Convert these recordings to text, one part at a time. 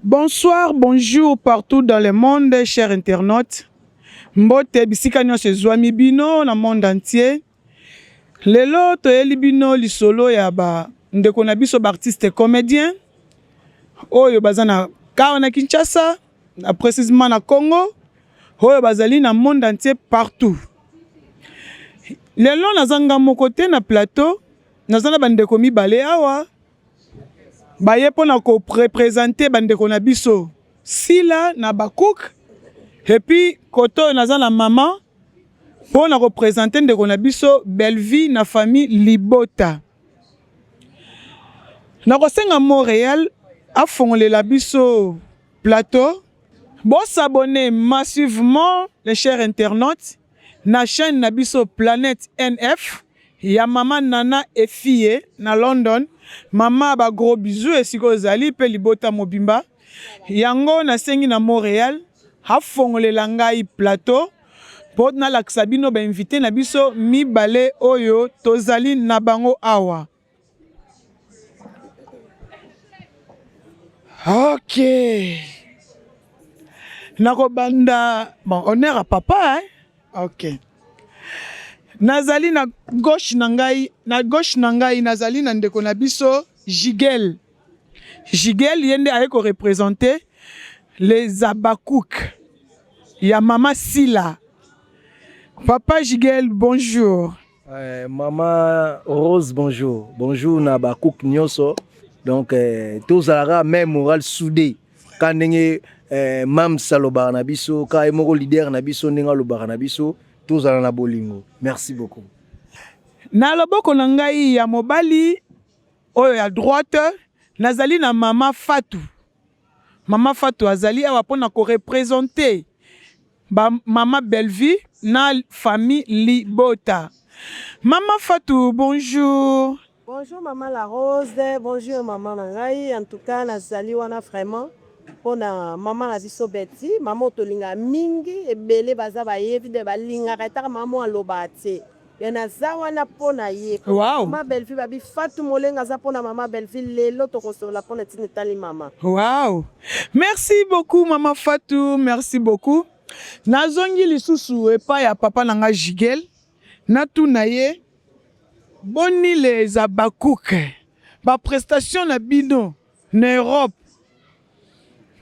Bonsoir, bonjour partout dans le monde cher internaute mbote bisika nionso ezuami bino na monde entier lelo toyeli bino lisolo ya ba ndeko na biso ba artistes comediens oyo baza na car na Kinshasa na precisement na Congo oyo bazali na monde entier partout lelo naza nga moko te na plateau naza na ba ndeko mibale awa baye mpo na korepresente bandeko na biso sila na bakouk epuis kote oyo naza na mama mpo na kopresente ndeko na biso bellevie na famille libota nakosenga montreal afongolela biso plateau bosabone massivement les chers internautes Na chaine na biso planète NF ya mama Nana et fille na London mama ba gros bisous esika ozali pe libota mobimba yango na sengi na Montreal a fongolela ngai plateau po na lakisa bino ba invite na biso mibale oyo tozali na bango awa. Ok. Nakobanda bon honneur à papa hein? Ok. Nazali na gauche na ngai, na gauche na ngai nazali na ndeko na biso Jigel. Jigel ye nde aye ko representer les Habakkuk ya mama Sila. Papa Jigel, bonjour. Eh, mama Rose bonjour bonjour na ba cook nyoso donc eh, tozalaka même moral soudé ka ndenge eh, mams alobaka na biso ka ye moko leader na biso ndenge alobaka na biso tozala na bolingo merci beaucoup na loboko na ngai ya mobali oyo ya droite nazali na mama Fatou Mama Fatou azali awa pona ko representer ba mama Bellevue na famille libota. Mama Fatou bonjour. Bonjour maman la rose bonjour maman na ngai en tout cas na zali wana vraiment pona maman na biso Betty maman oyo tolingaka mingi ebele baza bayebi de balingaka etaka maman oyo alobaka tse. Mais naza wana mpo na ye. Wow. Mama Bellevue babi Fatou Molenga aza mpo na mama Bellevue lelo tokosolola mpo na ntina etali mama. Wow. Merci beaucoup mama Fatou, merci beaucoup. Nazongi lisusu epai ya papa na nga Jigel. Natuna ye boni les Habacuc ba prestations na bino na Europe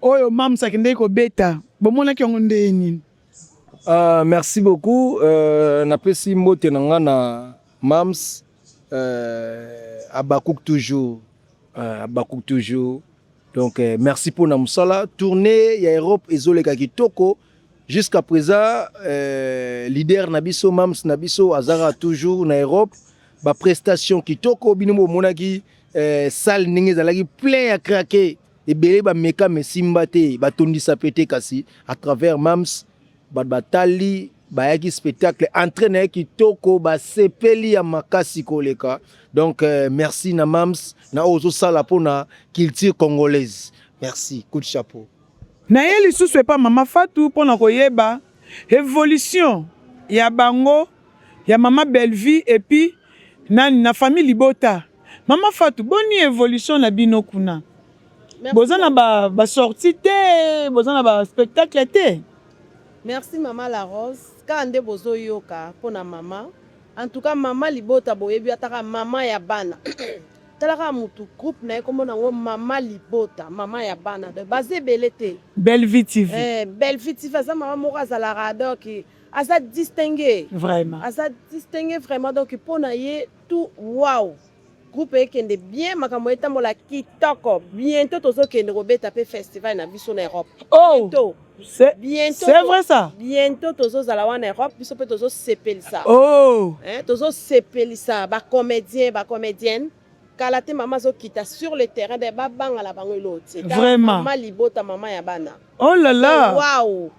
Oyo Mam's akendeki kobeta, bomonaki yango ndenge nini? Uh, merci beaucoup uh, napesi mbote na nga na Mam's uh, eh, Abakuk toujours uh, Abakuk toujours donc uh, merci mpo na mosala tournée ya Europe ezoleka kitoko jusqu'à présent uh, leader na biso Mam's na biso azaka toujours na Europe ba prestation kitoko bino bomonaki eh, salle ndenge ezalaki plein ya craquer ebele bameka mesimba te batondisa pe te kasi à travers mams bato batali bayaki spectacle entrée na ye kitoko basepeli ya makasi koleka donc euh, merci na mams na oyo ozosala mpona culture congolaise merci coup de chapeau naye lisusu epa mama fatu mpo na koyeba evolution ya bango Ya maman Bellevue et puis nani na famille libota maman fatou boni evolution na bino kuna boza na ba sortie te boza na ba spectacle te. Merci maman la rose kaka nde bozo yoka pona maman en tout cas maman libota boyebi ata kaka maman ya bana tala kaka mutu groupe naye kombo nango maman libota maman ya bana donc baza ebele te Bellevue TV eh Bellevue TV aza maman moko azalaka donc aza distingue vraiment aza distingue vraiment donc mpo na ye tout wow groupe ekende bien makambo etambola kitoko bientôt tozokende kobeta mpe festival na biso na europe oh. bientôt C'est vrai ça. Bientôt tozozala wana Europe biso pe tozosepelisa. Oh. Hein, tozosepelisa ba comédiens, ba comédiennes. kala te mama azokita sur le terrain d'ailleurs babanga na bango eloo te vraiment mama libota mama ya bana oh là là eh, waouh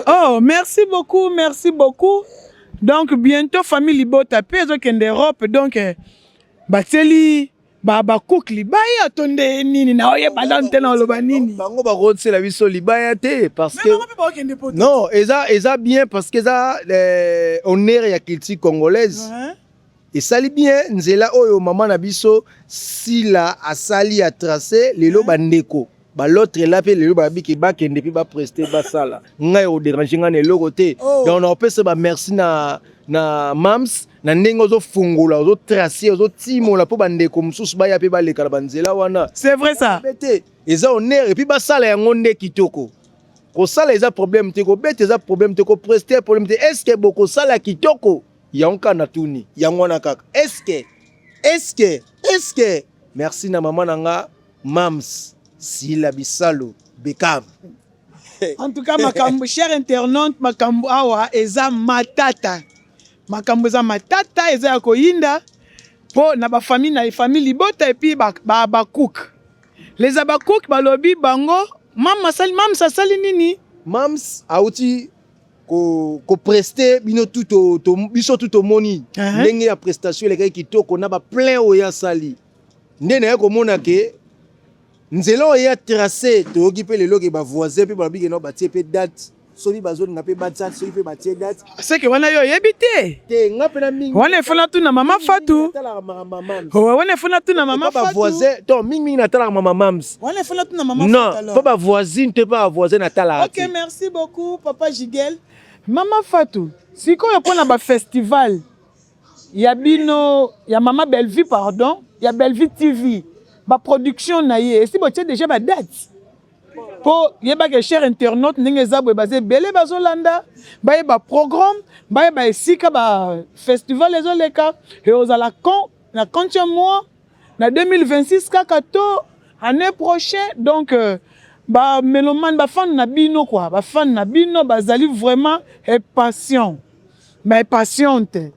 oh merci beaucoup merci beaucoup donc bientôt famille libota mpe ezokende europe donc eh, batieli babakuki libaya to nde nini na oyeba nanu te na oloba nini bango bakotisela biso libaya te parce que non eza eza bien parce que eza eh, honneur ya culture congolaise ouais. Esali bien nzela oyo maman na biso Sila asali a trace lelo ba ndeko ba l'autre là pe lelo ba biki ba kende pe ba prester ba sala ngai au déranger ngai na eloko te oh. donc na opesa ba merci na na mams na ndenge ozo fongola ozo tracer ozo timola po ba ndeko mususu ba ya pe ba leka na ba nzela wana c'est vrai ça bete eza honneur et puis ba sala yango nde kitoko ko sala eza problème te ko bete eza problème te ko prester problème te est ce que boko sala kitoko Yango kaka natuni. Yango wana kaka. Eske eske eske merci na mama na nga Mams Sila Bisalu Beckham. En tout cas makambo cher internaute makambo awa eza matata. Makambo eza matata eza ya koyinda po na ba famille na famille libota et puis ba ba, ba cook. Les Habakkuk balobi bango mama sali mams asali nini? Mams auti ko, ko preste bino tout to, to, biso tout tomoni uh -huh. ndenge ya prestation elekaki kitoko na ba plein oyo asali nde naye komona ke nzela oyo ya trace toyoki mpe lelo ke bavoisin mpe balobi keno batie mpe date soki bazolinga mpe batya soki mpe batie date seke wana yo oyebi te te nga mpe na mingi wana efona tu na mama fatu wana efona tu na mama fatu bavoisin to mingimingi natalaka mama mams Wana il faut na tuna maman Non, Fatou alors. po ba voisine te pa ba voisin na tala Ok, ati. merci beaucoup papa Jigel. Mama Fatou, sikoyo mpo na ba festival ya bino ya Mama Bellevue pardon, ya Bellevue TV, ba production na ye esi botie déjà ba date mpo yeba ke cher internaute ndenge eza boye baza ebele bazolanda bayeba programme bayeba esika ba festival ezoleka eozala quand na quand ya mois na 2026 kaka to année prochaine donc euh, ba melomane ba fan na bino quoi ba fan na bino bazali vraiment impatient mais impatiente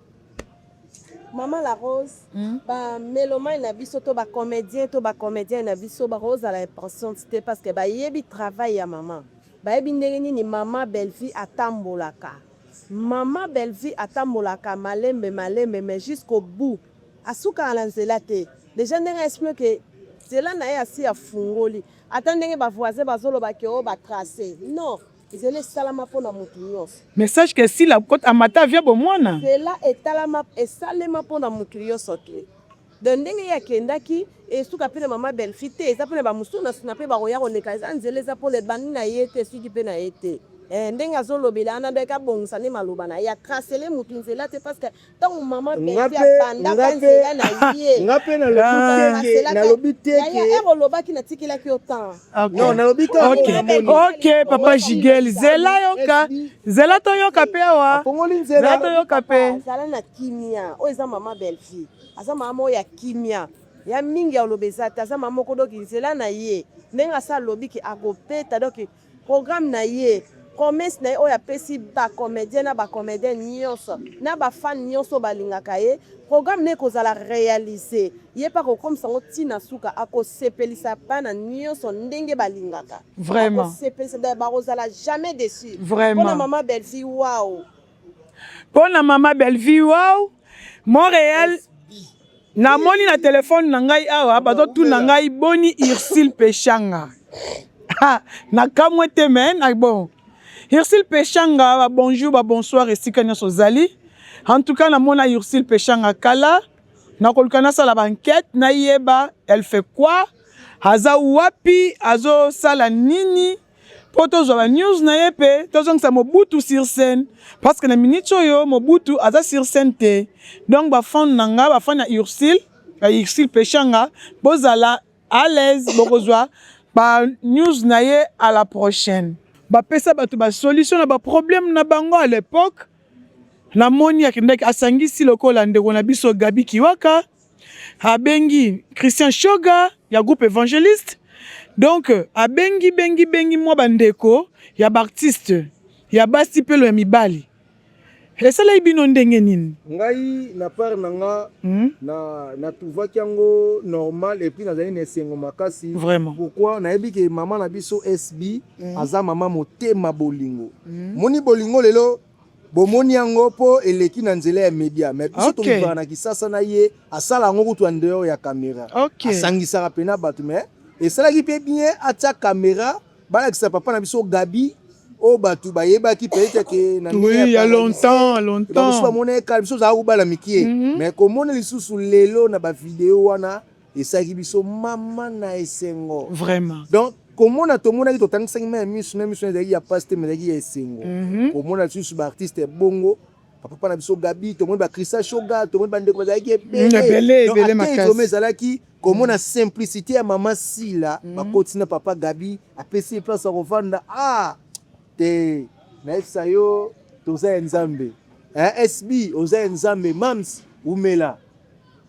Maman La Rose, hmm? ba melomane na biso to ba comédien to ba comédien na biso ba Rose à la impatiente te parce que ba yebi travail ya maman. Ba yebi ndenge nini maman Bellevue atambolaka. Maman Bellevue atambolaka malembe malembe mais jusqu'au bout. Asukaka na nzela te dejà ndenge a explique que nzela na ye asi afungoli ata ndenge ba voisins bazoloba que oh ba trace non nzela esalama mpo na moto nyonso. Message que Sila akokota amata avion ya bomwana. Nzela etalama esalema mpo na moto nyonso te donc ndenge ye akendaki esuka mpe na mama Bellevue te eza mpe na ba mosusu na sima mpe bakoya koleka eza nzela eza mpo na ebandi na ye te esuki mpe na ye te. Eh ndenge azolobela wana donc abongisa nde maloba na ye a tracele moto nzela te parce que ntango mama beti abandaka nzela na ye nga mpe nalobi teke olobaki natikelaki yo temps non nalobi ok papa jigel zela yoka zela toyoka mpe awa zela toyoka mpe zala na kimia oyo eza mama bellevie aza mama moko ya kimia ya mingi ya oloba eza te aza mama moko doki nzela na ye ndenge asa alobi ke akopeta doki Programme na ye, promesse na ye oyo apesi ba comediens na ba comediennes nionso na ba fans nionso oyo balingaka ye, programme na ye ekozala realiser. Ye pe akokomisa yango ti na suka, akosepelisa bana nionso ndenge balingaka. Vraiment. Akosepelisa, bakozala jamais deçu. Vraiment. Pona maman Bellevue, waouh. pona mama Bellevue wow Montreal namoni na telefone na ngai awa bazotuna ngai boni Ursule Peshanga nakamwe te me na bon Ursule Peshanga ba bonjour ba bonsoir esika nyonso ozali en tout cas namona Ursule Peshanga kala nakoluka nasala ba enquête nayeba elle fait quoi aza wapi azosala nini mpo tozwa ba news na ye mpe tozongisa Mobutu sur scène parce que na minute oyo Mobutu aza sur scène te donc ba fan na nga ba fan ya Ursule ya Ursule Peshanga bozala à l'aise bokozwa ba news na ye à la prochaine bapesa bato ba solution na ba problème na bango à l'époque namoni akendaki asangisi lokola ndeko na biso Gabi Kiwaka abengi Christian Shoga ya groupe Evangeliste donc abengi bengi bengi mwa bandeko ya baartiste ya basi mpe lo ya mibali esalaki bino ndenge nini ngai na part na nga hmm? na natuvaki yango normal epuis nazali na esengo makasi vraiment pourquoi nayebi ke mama na biso sb hmm? aza mama motema bolingo hmm? moni bolingo lelo Bomoni yango po eleki na nzela ya media mais biso okay. Tolivaka na kisasa na ye asala yango kutu en dehors ya camera okay. Asangisaka pena bato mais esalaki pe bien atia camera balakisa papa na biso Gabi oyo bato bayebaki peut-être ke na oui, ya longtemps longtemps biso bamona ye kala biso ozalaka kobala mikie mm -hmm. mais komona lisusu lelo na bavideo wana Esalaki biso mama na esengo. Vraiment. Donc komona tomonaki totangisaki mai ya miso na miso ezalaki ya mpasi te ezalaki ya esengo mhm. komona lisusu baartiste ya bongo papa na biso gabi tomoni bacrista shoga tomoni bandeko bazalaki ebeleebeleakoma ezalaki komona mm. simplicité ya mama sila mm. bakoti na papa gabi apesi ye place ya kovanda ah te nayebisa yo toza ya nzambe eh, sb oza ya nzambe mams umela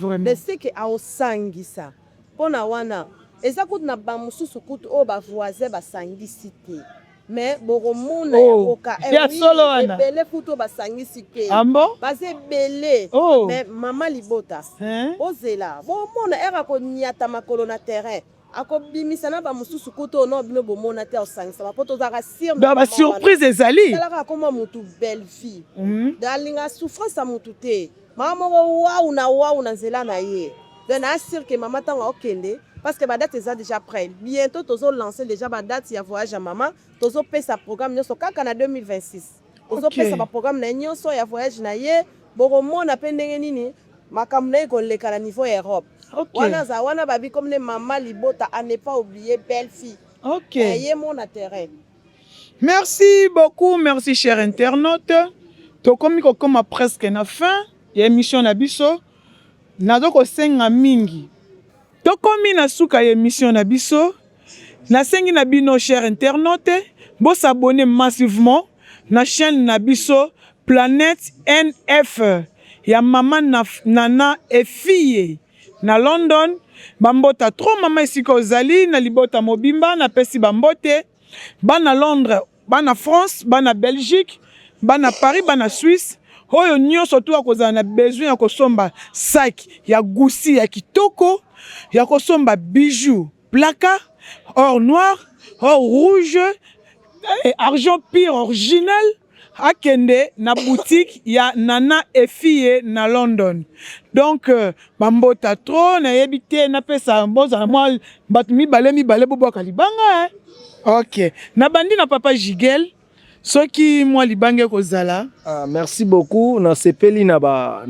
mais ce que aosangisa pona wana eza kutu na ba mususu kutu oyo ba voisin ba sangisi te mais bokomona yango ka eh oui ebele kutu oyo ba sangisi te baza ebele mais maman libota bozela bomona heure akoniata makolo na terrain akobimisa na bamosusu kutu oyo no bino bomona te osangisama mpo tozalaka sir donc basurprise ezali talaka akoma motu belle vie mhm. donc alinga souffrance ya motu te mama moko wau na wau na nzela na ye donc naa sir ke mama ntango akokende parce que badate eza déjà près bientôt tozolancer déjà badate ya voyage ya mama tozopesa programme nyonso kaka na 2026 ozopesa ba programme na ye nyonso ya voyage na ye bokomona mpe ndenge nini makambo na ye koleka na niveau ya europe okay. wana aza wana babi comme ne mama libota a ne pas oublier belle fille okay. na ye mona terrain merci beaucoup merci cher internaute tokomi kokoma presque na fin ya émission na biso nazo kosenga mingi tokomi na suka ya émission na biso Na sengi na bino chers internautes bo s'abonner massivement na chaine na biso planète NF ya maman Nana et fille na London ba mbota trop maman esika ozali na libota mobimba na pesi ba mbote bana Londres bana France bana Belgique bana Paris bana Suisse oyo nioso tu akozala na besoin ya kosomba sac ya Gucci ya kitoko ya kosomba bijoux Plaka or noir or rouge eh, argent pire original akende na boutique ya Nana Efie na London. Donc euh, bambota trop nayebi te napesa bozala mwa bato mibale mibale bobwaka libanga eh. Ok, nabandi na papa Jigel. soki mwa libanga ekozala. Ah, merci beaucoup, nasepeli na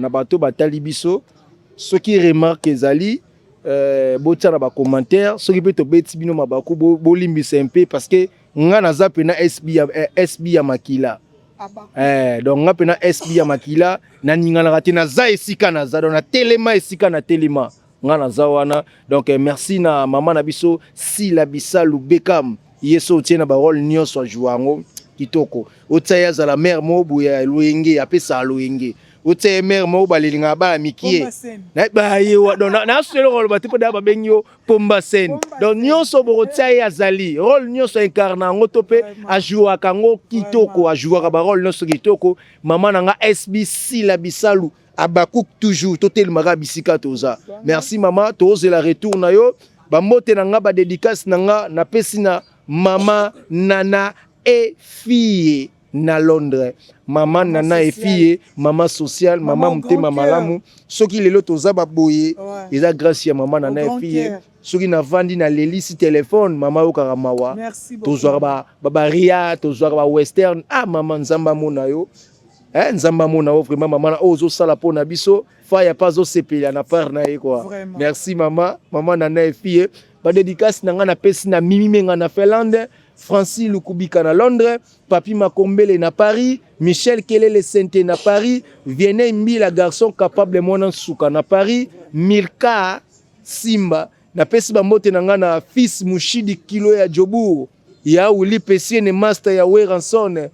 bato batali biso. Soki remarque ezali euh, botia na bacommentaire, soki mpe tobeti bino mabaku bolimbisa mpe parce que nga naza mpe na SB ya, eh, SB ya makila ah, eh, donc nga mpe na SB ya makila naninganaka te, naza esika naza donc natelema esika natelema nga naza wana donc eh, merci na mama na biso sila bisalu bekam ye so otie na barole nyonso ajua yango kitoko otia ye azala mare moko boye ya loyenge apesaka loyenge otia ye mare moko balelingaka bana mikie naso eloko aloba te mpo daya babengi yo pomba sene donc nyonso bokotia ye azali role nyonso aincarne yango to mpe ajouaka yango kitoko ajouaka barole nyonso kitoko mama na nga sb sila bisalu Habacuc toujours totelemaka bisika toza. Merci mama, tozela retour na yo. Bambote na nga ba dedicace na nga napesi na mama Nana et fille na Londres. Mama Nana et fille, mama sociale, mama motema malamu. Soki lelo toza ba boye, eza grâce ya mama Nana et fille. Soki na vandi na leli si téléphone, mama yokaka mawa. Tozwaka ba ba baria, tozwaka ba western. Ah mama Nzamba mona yo. Eh, nzambe amona yo vraiment mama na oyo ozosala mpo na biso faya mpe azosepela na part na ye kua merci mama mama nana efie badedikasi na ngai napesi na mimi menga na finlande francis lukubika na londres papi makombele na paris michel kelele sente na paris vienei mbila garçon capable mwana nsuka na paris mirka simba napesi bambote na ngai na fils mushidi kilo ya jobourg Ya Willy Pesiene masta ya Werrason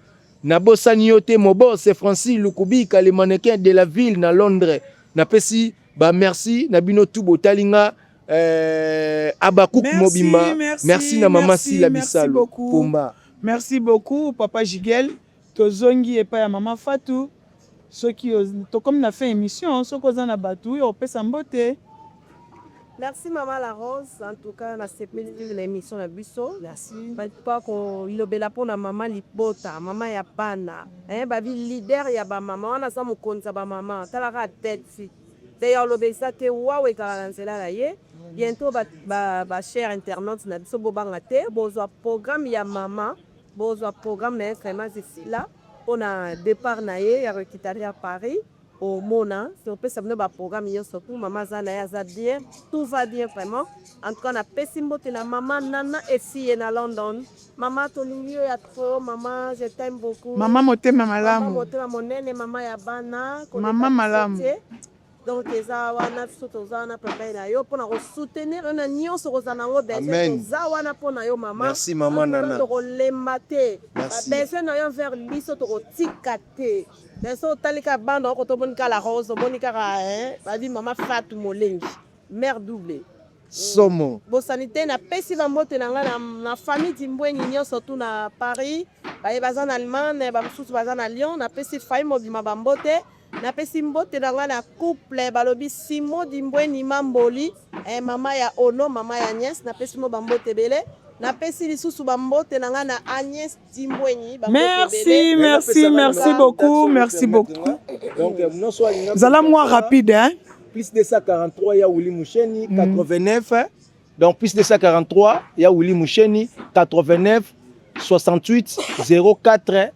nabosani yo te Mobose Francis Lukubika le mannequin de la ville na Londres napesi ba merci na bino tout botali nga euh, Habacuc mobimba merci, merci na mama Sila Bisalu Pomba Merci beaucoup papa Jigel tozongi epai ya mama Fatou Soki tokomi na fin emission soki oza na batu ya kopesa mbote. Merci maman la rose en tout cas na sepeli na emission na biso merci pas ko lobela pona maman libota maman ya bana eh ba bi leader ya ba maman wana aza mokonzi ya ba maman tala ka tete te ya oloba eza te wawa ekala na nzela na ye bientôt ba ba, ba cher internaute na biso bobanga te bozwa programme ya maman bozwa programme na ye vraiment zisila pona depart na ye ya requitaria Paris omona topesa bino ba programme nioso pour maman aza na ye aza bien tout va bien vraiment en tout cas na pesi mbote na maman nana efiye na London maman tolingi yo ya trop maman je t'aime beaucoup maman motema malamu maman motema monene maman ya bana koleka biso te donc eza wana biso toza wana pembeni na yo mpona kosoutenir yo na nyonso kozala na yango besoin toza wana mpo na yo mamamerci mama nana tokolemba te babesoin na yo envers biso tokotika te beso otali kaka banda oko tomoni kaka la rose omoni kaka babi mama fatu molengi mare double somo bosani te napesi bambote na ngai na famille dimbweni nyonso tu na paris baye baza na allemagne bamosusu baza na lyon napesi fai mobima bambote Na pesi mbote na nga na couple balobi Simon Dimbweni Mamboli eh, mama ya Ono, mama ya Agnes, na pesi mo ba mbote ebele. Na pesi lisusu ba mbote na nga na Agnes Dimbweni ba mbote Merci, ebele. merci, merci beaucoup, merci beaucoup. Donc, euh, mnoso alinga Zala kosala moi rapide, hein. plus 243 ya Willy Musheni 89 hein. donc plus 243 ya Willy Musheni 89 68 04